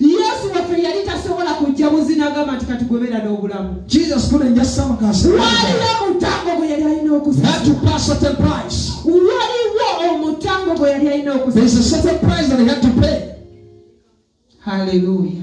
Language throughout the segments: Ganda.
yesu waffe yali tasobola kujja buzinagamba nti kati gwebera n'obulamu waliwo omutango gwe yali alina okuwaliwo omutango gwe yali alina okuhaleluya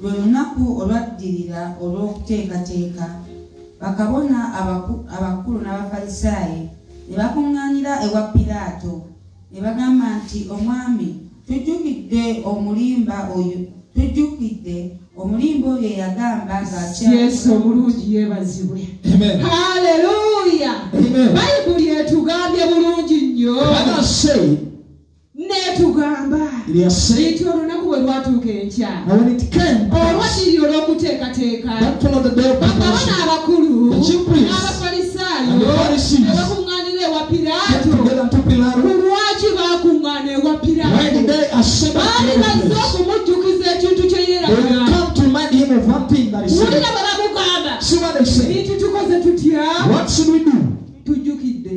Lwe lunaku olwaddirira olw'okuteekateeka, bakabona abakulu n'Abafalisaayi ne bakuŋŋaanira ewa Piraato ne bagamba nti, Omwami, tujjukidde omulimba oyo tujjukidde omulimba oyo eyagamba ng'akyesu omulungi yeebazibwe haleluya bayibuli etugambye bulungi nnyo netugamba nti olunaku bwe lwatuuka enkya olwakiri olw'okuteekateeka bakabona abakulu abafalisaayo nebakuŋŋaanira ewa piraato kulwaki bakuŋŋaana ewa piraato baali bazze okumujjukiza ekintu kye yeeraga wulira babamugamba nti tukoze tutya tujjukidde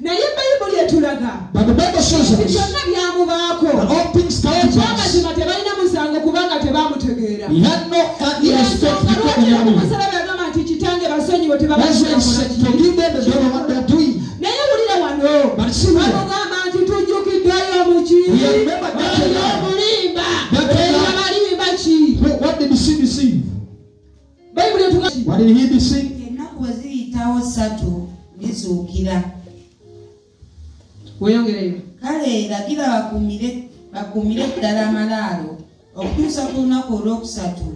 naye bayibuli etulaga byonna byamubaako ekyamazima tebalina musango kubanga tebamutegeera yagamba nti kitange basonyiwe naye wulira wano amugamba nti tujjukiddeyo muki bayibuli etugaennaku bwe ziyitawo ssatu ndizuukira weyongereyo kale lagira bakumire bakumire ddala amalaalo okutuusa ku lunaku olwokusatu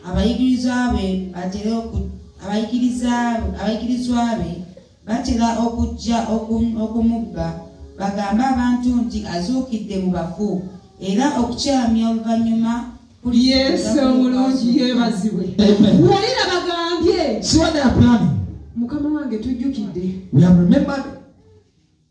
abayigirizwa be batere abayigirizwa be Batera okujja okumubba bagambe abantu nti azuukidde mu bafu era okukyamya oluvannyuma yesu omulungi yebazibwe walira bagambye mukama wange tujjukidde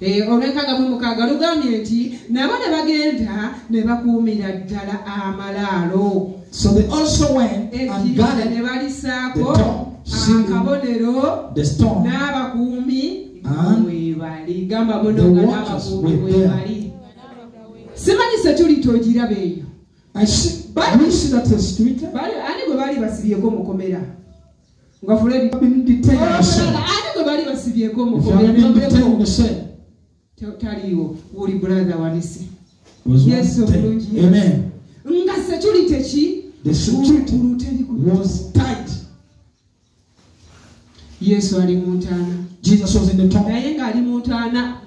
eh, olwenkaaga mu mukaaga lugambye nti nabo ne bagenda ne bakuumira ddala amalaalo So they also went and guarded the door, akabonero n'abakuumi webali gamba bono nga n'abakuumi webali simanyi security ogiraba eyo ani gwe baali basibyeko mukomera nga fuledi ani gwe bali basibyeko omukomeamuleko taliiwo wuli brother wanise yesu obulungi nga security ki yesu ali mu ntaana naye ng'ali mu ntaana